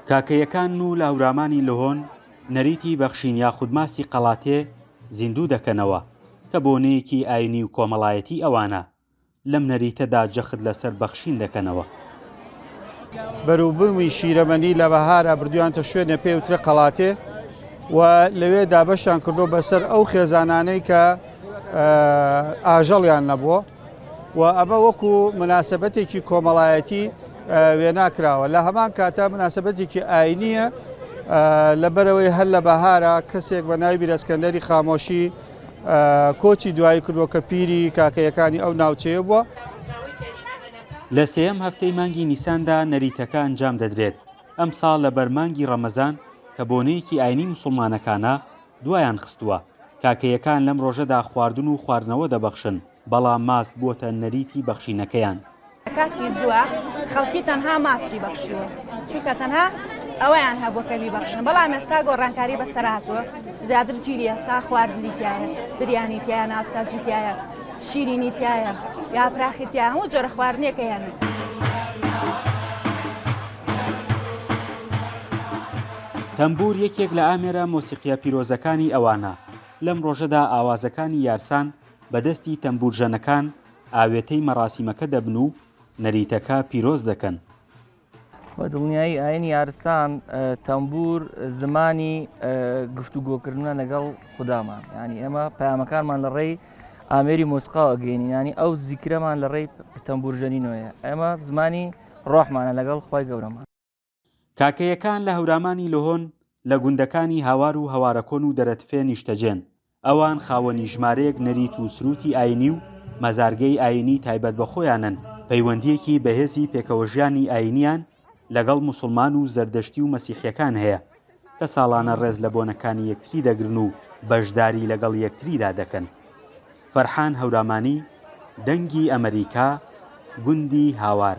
کاکەیەکان و لاورامانی لهۆن نەریتی بەخشین یاخود ماستی قەڵاتێ زیندوو دەکەنەوە، کە بۆنەیەکی ئاینی و کۆمەڵایەتی ئەوانە، لەم نەریتەدا جەخت لەسەر بەخشین دەکەنەوە. بەروبوومی شیرەمەنی لە بەهارا بردویانتە شوێنێ پێ وترێ قەڵاتێ و لەوێ دابەشیان کردووە بەسەر ئەو خێزانانەی کە ئاژەڵیان نەبووە. و ئەمە وەکو مناسەبەتێکی کۆمەڵایەتی وێنا کراوە لە هەمان کاتە مناسەبەتێکی ئاینیە لەبەرەوەی هەر لە بەهارە کەسێک بە ناوی بیرەسکەندەری خامۆشی کۆچی دوایی کردووە کە پیری کاکەیەکانی ئەو ناوچەیە بووە. لە سێیەم هەفتەی مانگی نیساندا نەریتەکە ئەنجام دەدرێت، ئەمساڵ لەبەر مانگی ڕەمەزان کە بۆنەیەکی ئاینی موسڵمانەکانە، دوایان خستووە. کاکەیەکان لەم ڕۆژەدا خواردن و خواردنەوە دەبەخشن، بەڵام ماست بووەتە نەریتی بەخشینەکەیان. لە کاتی زووە خەڵکی تەنها ماستی بەخشیوە، چونکە تەنها ئەوەیان هەبووە کە بیبەخشن، بەڵام ئێستا گۆڕانکاری بەسەر هاتووە، زیاتر جیلی ئێستا خواردنی تیایە، بریانی تیایە، ناوساجی تیایە، شیرینی تیایە، یاپراخی تیایە، هەموو جۆرە خواردنێک هەیە. تەمبوور یەکێک لە ئامێرە مۆسیقییە پیرۆزەکانی ئەوانە، لەم ڕۆژەدا ئاوازەکانی یارسان بە دەستی تەمبوورژەنەکان ئاوێتەی مەراسیمەکە دەبن و نەریتەکە پیرۆز دەکەن. بە دڵنیایی ئاینی یارسان تەمبوور زمانی گفتوگۆکردنە لەگەڵ خودامان، یانی ئێمە پەیامەکانمان لە ڕێی ئامێری مۆسیقاوە گەینین، یانی ئەو زیکرەمان لە ڕێی تەمبوورژەنینەوەیە، ئێمە زمانی ڕۆحمانە لەگەڵ خوای گەورەمان. کاکەیەکان لە هەورامانی لهۆن، لە گوندەکانی هاوار و هەوارەکۆن و دەرەتفێ نیشتەجێن. ئەوان خاوەنی ژمارەیەک نەریت و سرووتی ئایینی و مەزارگەی ئایینی تایبەت بە خۆیانن، پەیوەندییەکی بەهێزی پێکەوەژیانی ئایینییان لەگەڵ موسڵمان و زەردەشتی و مەسیحییەکان هەیە، کە ساڵانە ڕێز لە بۆنەکانی یەکتری دەگرن و بەشداری لەگەڵ یەکتریدا دەکەن. فەرحان هەورامانی، دەنگی ئەمەریکا، گوندی هاوار.